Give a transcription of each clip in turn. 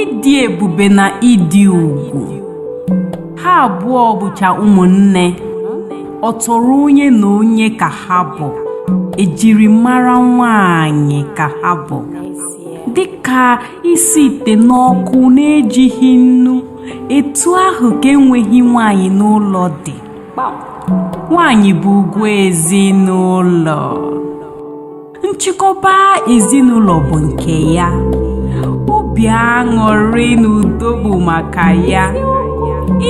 ịdị ebube na ịdị ugwu ha abụọ bụcha ụmụnne ọ tọrọ onye na onye ka ha bụ ejirimara nwanyị ka ha bụ dịka isi ite n'ọkụ n'ejighị nnu etu ahụ ka enweghị nwanyị n'ụlọ dị nwanyị bụ ugwu ezinụlọ nchịkọba ezinụlọ bụ nke ya obi aṅụrị na udo bụ maka ya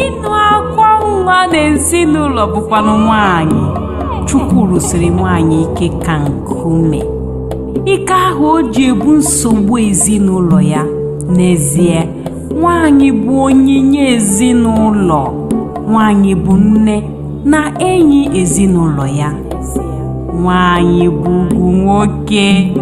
ịnụ akwa nwa na ezinụlọ bụkwanụ nwanyị chukwu rụsiri nwanyị ike ka nkume ike ahụ o ji ebu nsogbu ezinụlọ ya n'ezie nwanyị bụ onyinye ezinụlọ nwanyị bụ nne na enyi ezinụlọ ya nwaanyị bụ ugwu nwoke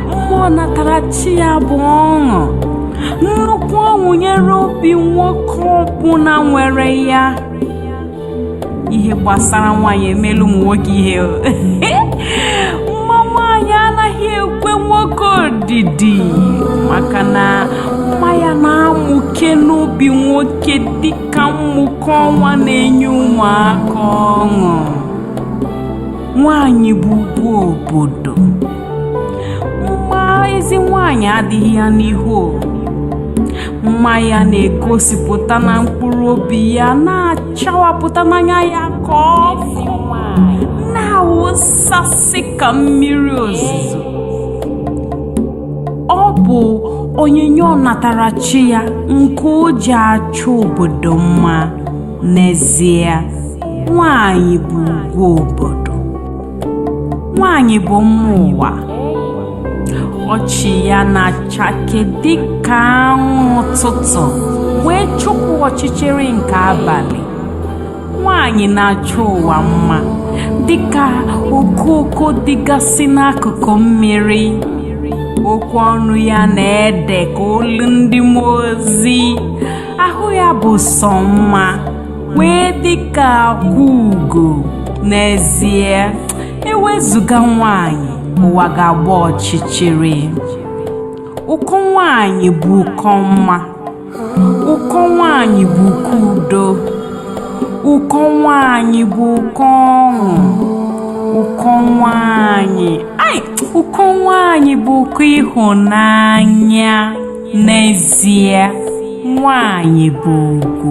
mma ọnatarachi ya bụ ọṅụ nnukwu ọṅụ nyere obi nwoke ọbụla nwere ya ihe gbasara nwaanyị emeela ụmụ nwoke ihe mma nwaanyị anaghị ekwe nwoke odidi maka na mma ya na-amụke n'obi nwoke dị ka mmụke ọnwa na-enye ụmụaka ọṅụ nwanyị bụ ugwu obodo mma ezi nwanyị adịghị ya n'ihu mma ya na-egosipụta na mkpụrụ obi ya na-achawapụta n'anya ya ka ọkụ na-awụsasị ka mmiri ozuzo ọ bụ onyinye ọnatarachi ya nke o ji achọ obodo mma n'ezie nwanyị bụ ugwu obodo nwanyị bụ mma ụwa ọchị ya na-achake dịka anwụ ụtụtụ wee chụpụ ọchịchịrị nke abalị nwaanyị na-achọ ụwa mma dịka okooko dịgasị n'akụkụ mmiri okwu ọnụ ya na-ede ka olu ndị mmụọ ozi ahụ ya bụ sọ mma wee dịka akwa ugo n'ezie ewezụga nwaanyị ụwa ga-agba ọchịchịrị ụkọ nwaanyị bụ ụkọ mma ụkọ nwaanyị bụ ụkọ udo ụkọ nwaanyị bụ ụkọ ọṅụ ụkọ nwaanyị ai ụkọ nwaanyị bụ ụkọ ịhụnanya n'ezie nwaanyị bụ ugwu